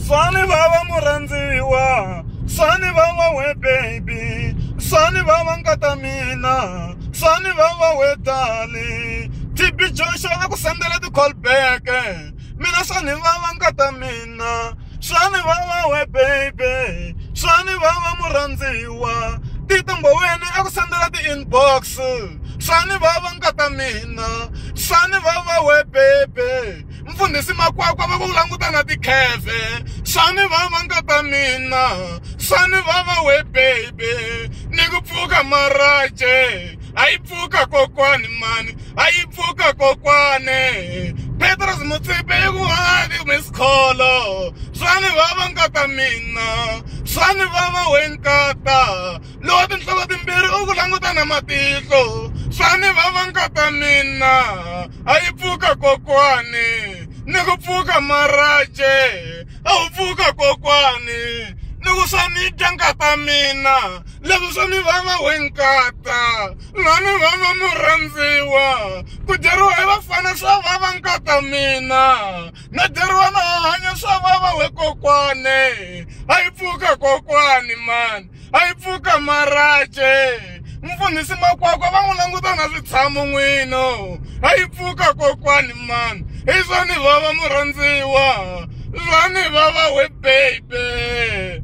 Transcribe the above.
Sani vava murhandziwa sani vava we baby sani vava nkata mina sani vava we dali TB Joshua a ku sendela ti-call back mina sani vava nkata mina swani vava we baby swani vava murhandziwa titimboweni eku sendela ti-inbox swani vava nkata mina swani vava we baby mfundhisi makwakwa va ku languta na tikheve swani vava nkata mina swani vava we baby ni ku pfuka maraje a yi pfuka kokwani mani a yi pfuka kokwane petros mutsipe i ku vangaki misikholo swa ni vava nkata mina swa ni vava we nkata lowa tinhloko timbirhi u ku languta na matihlo swa ni vava nkata mina a yi pfuka kokwani ni ku pfuka maraje a wu pfuka kokwani loko swa ni dya nkata mina leswi swa ni vava we nkata na ni vava murhandziwa ku dyeriwa hi vafana swa vava nkata mina na dyeriwa na hanya swa vava we kokwane a yi pfuka kokwani mani a yi pfuka marace mfundhisi makwakwa va n'wi languta na switshamo n'wino a yi pfuka kokwani mani hi swa ni vava murhandziwa swa ni vava we baby